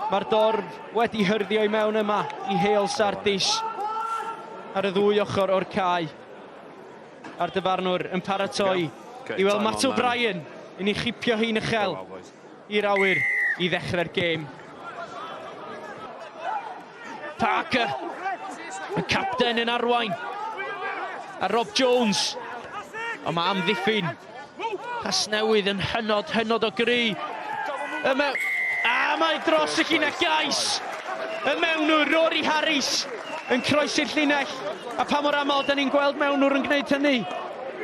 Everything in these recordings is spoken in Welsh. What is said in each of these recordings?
Mae'r dorf wedi hyrddio i mewn yma i Heol Sardis ar y ddwy ochr o'r cae. A'r dyfarnwr yn paratoi i weld Matt O'Brien yn ei chipio hi'n uchel i'r awyr i ddechrau'r gêm. Parker, y capten yn arwain, a Rob Jones. Ond mae amddiffyn Casnewydd yn hynod, hynod o gry. Y mew... A mae dros y llinell gais! Y mewnwr, Rory Harris, yn croesi'r llinell. A pa mor aml da ni'n gweld mewnwr yn gwneud hynny?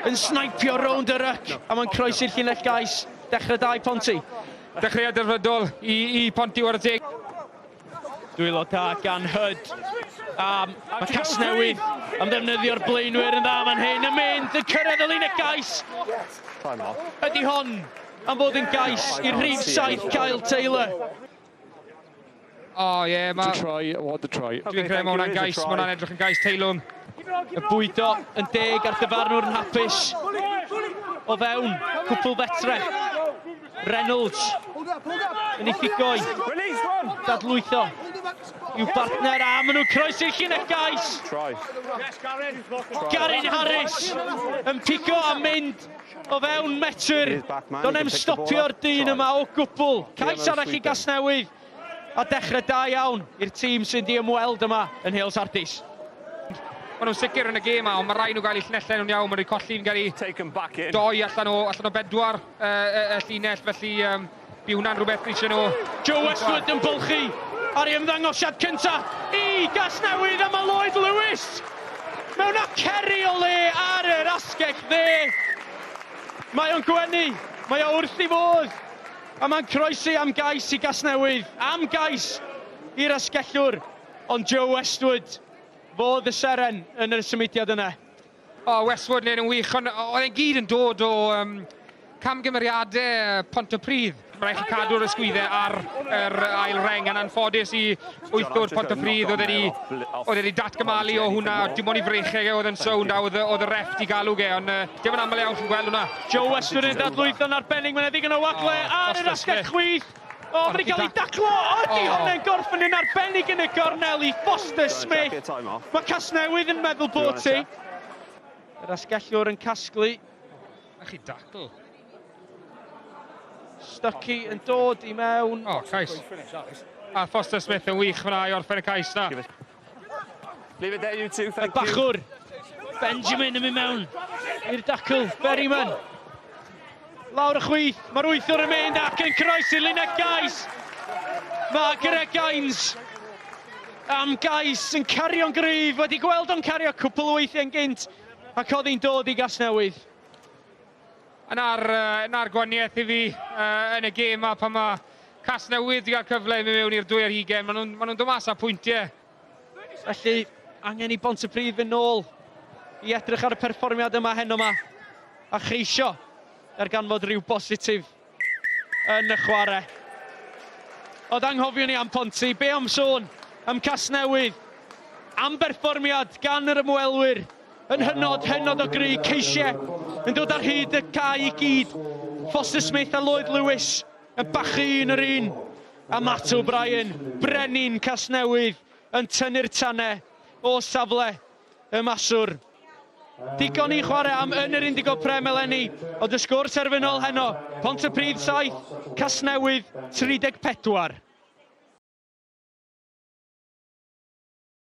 Yn snaipio rownd y ryc, a mae'n croesi'r llinell gais. Dechrau da i Ponty. Dechreuad delfrydol i, i Ponty, wara teg. Dwylo da gan Hyd. Um, mae Casnewydd yn ddefnyddio'r blaenwyr yn dda fan hyn yn mynd yn cyrraedd y linell gais. Ydy hon am fod yn gais i'r rhif saith Kyle Taylor. Oh, yeah, ma... To try, what to try. Dwi'n credu mae hwnna'n gais, mae hwnna'n edrych yn gais teilwng. Y bwydo yn deg a'r dyfarnwr yn hapus o fewn cwpl fetre. Reynolds. Yn ei ffigoi. Dadlwytho. I'w bartner a maen nhw'n croesi'r llinell gais. Garin Harris yn pigo a mynd o fewn metr. Do'n em stopio'r dyn yma o gwbl. Cais arall i Gasnewydd. A dechrau da iawn i'r tîm sy'n di ymweld yma yn Nheol Sardis. Maen nhw'n sicr yn y gêm a, ond mae rhaid nhw gael eu llinellau nhw'n iawn, maen nhw wedi colli fi'n gael eu doi allan o, allan o bedwar y, y, y llinell, felly um, bu hwnna'n rhywbeth eisiau nhw... Joe Westwood yn bylchu ar ei ymddangosiad cyntaf i Gasnewydd a mae Lloyd Lewis mewn aceri o le ar yr asgell dde. Mae o'n gwenu, mae o wrth i fodd A mae'n croesi am gais i Gasnewydd, am gais i'r asgellwr, ond Joe Westwood fodd y seren yn y symudiad yna. O, Westwood neud yn wych, ond oedd e'n gyd yn dod o um, camgymeriadau Pontypridd. Mae rhaid chi cadw'r ysgwyddau ar yr ail reng yn anffodus i Wyth o'r Pontypridd oedd wedi, oedd wedi datgymalu o hwnna, dim ond i frecheg e oedd yn sownd a oedd, oedd y ref di galw ge, ond uh, dim yn aml iawn chi'n gweld hwnna. Joe Western yn dadlwytho yn arbennig, mae'n edrych yn o wagle oh, ar yr asgell chwith. O, oh, mae'n cael ei daclo, o, oh, di hwnna'n gorffen yn arbennig yn y gornel i Foster Smith. Mae Casnewydd yn meddwl bod ti. Yr asgellwr yn casglu. A chi dacl. Stucky yn dod i mewn. O, oh, cais. A Foster Smith yn wych fyna i orffen y cais na. Leave it there you two, thank you. Y bachwr, Benjamin yn mynd mewn i'r dacl, Berryman. Lawr y chwith, mae'r wythwr yn mynd ac yn croesi Lynette Gais. Mae Greg Gaines am Gais yn cario'n gryf, wedi gweld o'n cario cwpl o weithiau'n gynt ac oedd hi'n dod i Gasnewydd. Yna'r, yna'r gwaniaeth i fi uh, yn y gêm a pan mae Casnewydd wedi cael cyfle i mynd mewn i'r dwy ar hugen, maen nhw'n ma nhw dod mas â pwyntiau. Felly, angen i Bont y Brif yn ôl i edrych ar y perfformiad yma heno yma a cheisio er ganfod rhyw bositif. yn y chwarae. Oedd anghofion ni am Ponty, be am sôn am Casnewydd? Am berfformiad gan yr ymwelwyr yn hynod, hynod o gry, ceisiau yn dod ar hyd y cae i gyd. Foster Smith a Lloyd Lewis yn bachu un yr un. A Matt O'Brien, brenin Casnewydd, yn tynnu'r tanau o safle Y maswr. Digon i chwarae am yn yr Indigo Prem eleni, ond y sgôr terfynol heno, Pontypridd 7, Casnewydd 34.